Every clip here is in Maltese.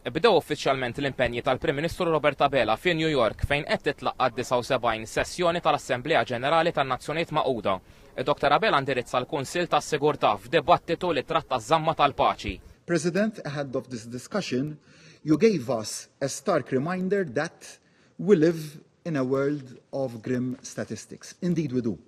Bdew uffiċjalment l-impenji tal-Prim Ministru Robert Abela fi New York fejn qed titlaqqa' d-79 sessjoni tal-Assemblea Ġenerali tan-Nazzjonijiet Magħquda. Dr Abela ndirizza l-Kunsill tas-Sigurtà f'dibattitu li tratta ż-żamma tal-paċi. President, ahead of this discussion, you gave us a stark reminder that we live in a world of grim statistics. Indeed we do.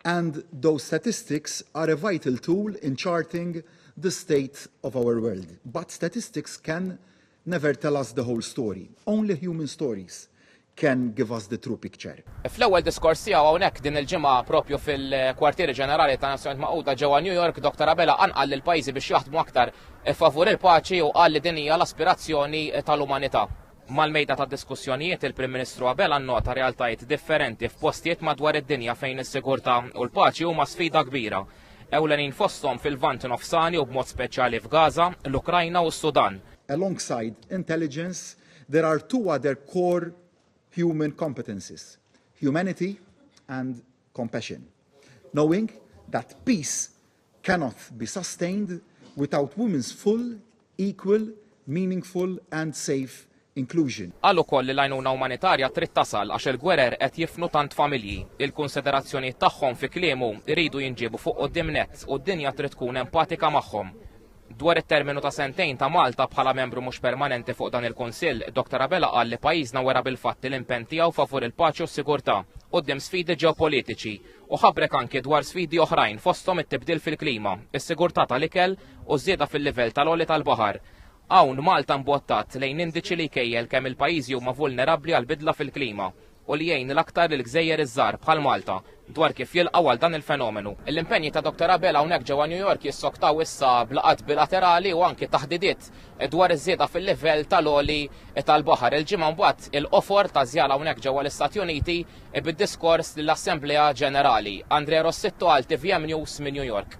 And those statistics are a vital tool in charting the state of our world. But statistics can never tell us the whole story. Only human stories can give us the true picture. Fl-ewwel diskors tiegħu hawnhekk din il-ġimgħa propju fil-Kwartieri Ġenerali ta' Nazzjonijiet Magħquda ġewwa New York, Dr. Abela qanqal lil pajjiżi biex jaħdmu aktar favur il-paċi u qal li din hija l-aspirazzjoni tal-umanità. Mal-mejda ta' diskussjonijiet il-Prim Ministru Abela nnota realtajiet differenti f'postijiet madwar id-dinja fejn is-sigurtà u l-paċi huma sfida kbira. Ewlenin fosthom fil-Lvant Nofsani u b'mod speċjali f'Gaza, l-Ukrajna u s-Sudan. Alongside intelligence, there are two other core human competencies, humanity and compassion. Knowing that peace cannot be sustained without women's full, equal, meaningful and safe inclusion. Qal ukoll li l-għajnuna umanitarja trid tasal għax il-gwerer qed jifnu tant familji. Il-kunsiderazzjonijiet tagħhom, fi kliemu, iridu jinġiebu fuq quddiem nett u d-dinja trid tkun empatika magħhom. Dwar it-terminu ta' sentejn ta' Malta bħala membru mhux permanenti fuq dan il-Kunsill, Dr Abela qal li pajjiżna wera bil-fatti l-impenn tiegħu favur il-paċi u s-sigurtà, quddiem sfidi ġeopolitiċi, u ħabrek anki dwar sfidi oħrajn fosthom it-tibdil fil-klima, is-sigurtà tal-ikel u ż-żieda fil-livell tal-għoli tal-baħar. Hawn Malta mbottat lejn indiċi li jkejjel kemm il-pajjiżi huma vulnerabbli għall-bidla fil-klima u li jgħin l-aktar lill-gżejjer iż-żgħar bħal Malta dwar kif jilqgħu għal dan il-fenomenu. L-impenji ta' Dr Abela hawnhekk ġewwa New York jissoktaw issa b'laqgħat bilaterali u anki taħdidiet dwar iż-żieda fil-livell tal-għoli tal-baħar. Il-ġimgħa mbagħad il-qofor ta' żjara hawnhekk ġewwa l-Istati Uniti Ib id-diskors lill-Assemblea Ġenerali. Andrea Rossitto għal tvm News minn New York.